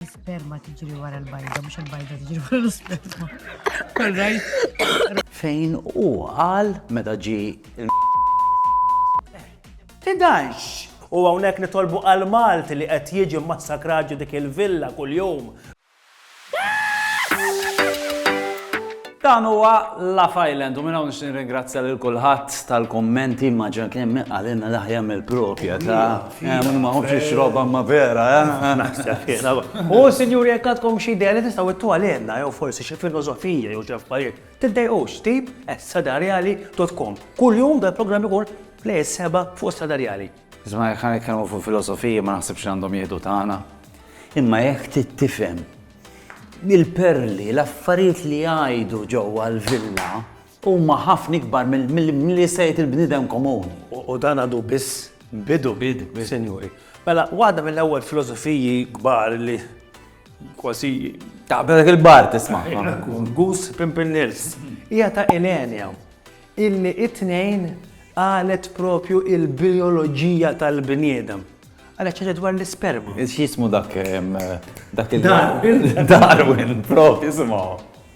L-isperma tiġri wara l-bajda, mhux il-bajda tiġri wara l-isperma. Fejn u għal meta ġi il Tidax! U hawnhekk nitolbu għal Malti li qed jiġi massakrat ġi dik il-villa kuljum. Dan huwa Laugh Island u minn hawn nixtieq nirringrazzja lil kulħadd tal-kummenti ma ġan kien min qalilna l-aħjar mill-propja ta' Tfina. Ma nħobbx nixrob imma vera, eh? U sinjuri jekk għandkom xi idea li tistgħu ittuha lilna jew forsi xi filosofija jew xi affarijiet, tiddejqux steve at sadarjali.com. Kuljum dal-programm ikun play is-seba' fuq sadarjali. Isma' jekk għan nitkellmu fuq filosofija ma naħsibx li għandhom jieħdu tagħna. Imma jekk trid tifhem il-perli, l-affarijiet li jgħidu ġewwa l-villa, Huma ħafna ikbar milli se jgħid il-bniedem komuni. U dan għadu biss bidu, sinjuri. Mela, waħda mill-ewwel filosofiji kbar li kważi. Taqbżilek il-bar tisma'. Gus Pimpernels. Hija ta' Ilenia, illi t-tnejn qalet proprju l-bijoloġija tal-bniedem. Qalet xi ħaġa dwar l-isperma. X'jismu dak Darwin. Darwin, proprju, simgħu.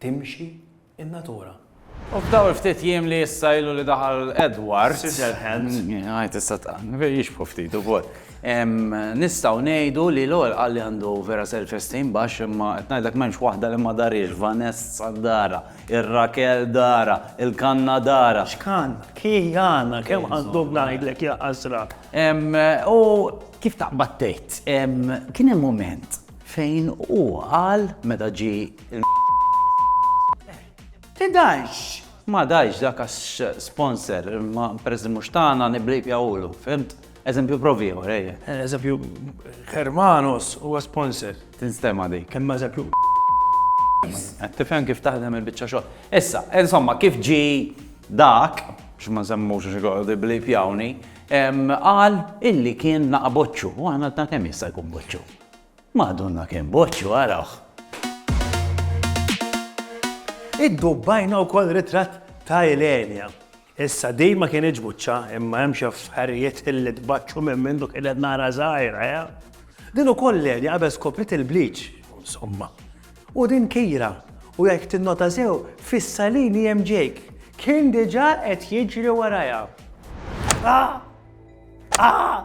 timxi n-natura. U f'dawn il-ftit jiem li issa ilu li daħal Edward. Scissorhands. Għid issa tqann, jixbħu ftit ukoll. Nistgħu ngħidu li l-ewwel qal li għandu vera self-esteem baxx imma qed ngħidlek m'hemmx waħda li ma darhiex, Vanessa darha, ir-Rakel darha, il-kanna darha. X'kanna? Kiana, kemm għandu ngħidlek jaqasra. U kif taqbad tgħid, kien hemm mument fejn hu qal meta ġie Tidajx! Ma dajx dak għax sponsor, ma peress mhux tagħna niblib jawlu, fimt? Eżempju provi ieħor, ejja. Eżempju, Hermanos huwa sponsor. Tinstema dik. Kemm eżempju. Qed tifhem kif taħdem il-biċċa xogħol. Issa, insomma, kif ġi dak, x'ma semmux xi għordi blib jawni, qal illi kien naqboċċu, u għana ta' kemm jista' jkun boċċu. Madonna kemm boċċu arawh! Iddubbajna wkoll ritratt ta' Ilenia. Issa din ma kinitx buċċa imma hemm xi affarijiet illi tbaċċu minn mindu kienet nara żgħira, eh? Din ukoll Ilenia qabel skopriet il-bleach, insomma. U din Kira, u jekk tinnota sew, fis-salini hemm Jake. Kien diġà qed jiġri warajha. Ah! Ah!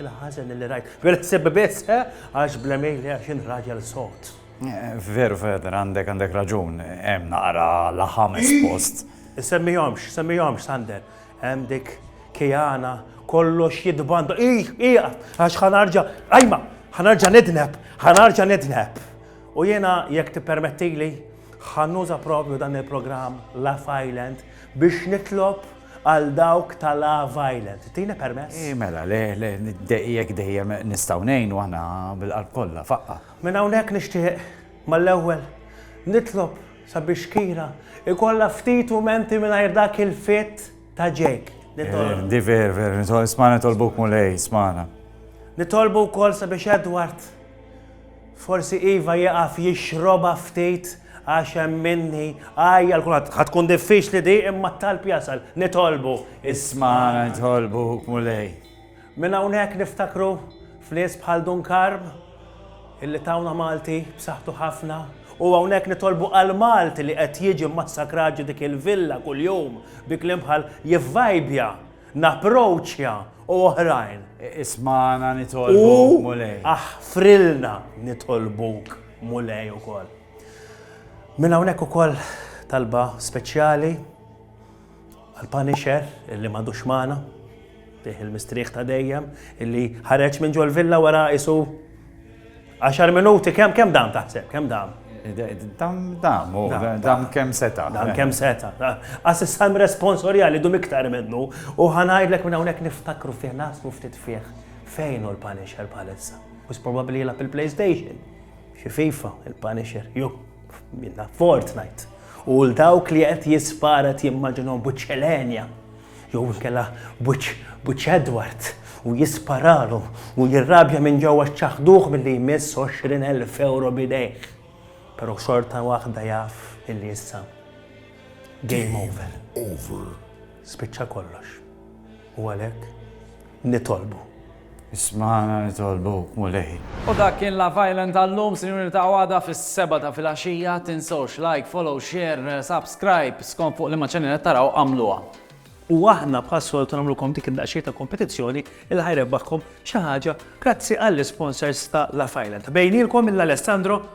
Il-ħażen li rajt. Vera sebbi biss, eh? Għax bla mejl għax jien raġel sod. Eh, veru, Feder, għandek għandek raġun, hemm naqra laħam espost. Semmijomx, semmijomx, Sander. Hemm dik kijana kollox jidbanda. Ih, ih, għax ħanarġa, ajma, ħanarġa nidneb, ħanarġa nidneb. U jena jekk tippermettili ħannuża propju dan il-programm La Island biex nitlob Għal dawk ta' La Violette, tini permess? Ii mela, le, le, jekk dejjem nistgħu ngħinu aħna bil-qalb kollha, faqqa'. Minn hawnhekk nixtieq, mal-ewwel, nitlob sabiex Kira jkollha ftit mumenti mingħajr dak il-fitt ta' Jake. Nitolbu. Di ver, ver, isma' nitolbuk Mulej, ismana. Nitolbu wkoll sabiex Edward. Forsi iva jieqaf jixrobha ftit għax hemm minni għajja l kulħadd. Ħa tkun diffiċli di imma t-talb jasal. Nitolbu. Ismagħna nitolbuk Mulej. Minn hawnhekk niftakru f'nies bħal Dun Karm illi tawna Malti b'saħħtu ħafna u hawnhekk nitolbu għal Malti li qed jiġi mmassakrat ġo dik il-villa kuljum bi kliem bħal jivvajbja Napproċċja u oħrajn. Ismagħna nitolbuk, Mulej. U aħfrilna nitolbuk, Mulej, ukoll. Minn hawnhekk ukoll talba speċjali għal Punisher illi m'għadux magħna, tih il-mistrieħ ta' dejjem, illi ħareġ minn ġol villa wara isu Għaxar minuti, kemm kemm dam taħseb, kemm dam? Dam, dam, u dam kemm seta. Dam kemm seta. Għas issa responsorjali dum iktar minnu u ħanajdlek minn hawnhekk niftakru fih nasmu ftit fih fejn u l-Punisher palissa. U probabli jilab il-PlayStation, xi FIFA, il-Punisher, ju, minna Fortnite. U l-dawk li qed jisparet jimmaġinhom buċċelenja Jew inkella b'wiċċ b'wiċċ Edward u jisparalu u jirrabja minn ġewwa x'ċaħħduh milli jmiss għoxrin elf ewro b'idejh. Però xorta waħda jaf illi issa game over. Spiċċa kollox. U għalhekk nitolbu. Ismagħna nitolbuk, Mulej. U dak kien La Violent tal-lum, sinjuri niltaqgħu għada fis-sebgħa ta' filgħaxija, tinsewx like, follow, share, subscribe, skont fuq liema channel qed taraw agħmluha. U aħna bħas-soltu nagħmlulkom dik id-daqsxejn ta' kompetizzjoni li ħa jrebbaħkom xi ħaġa grazzi għall-isponsors ta' La Violent. Bejnielkom mill-Alessandro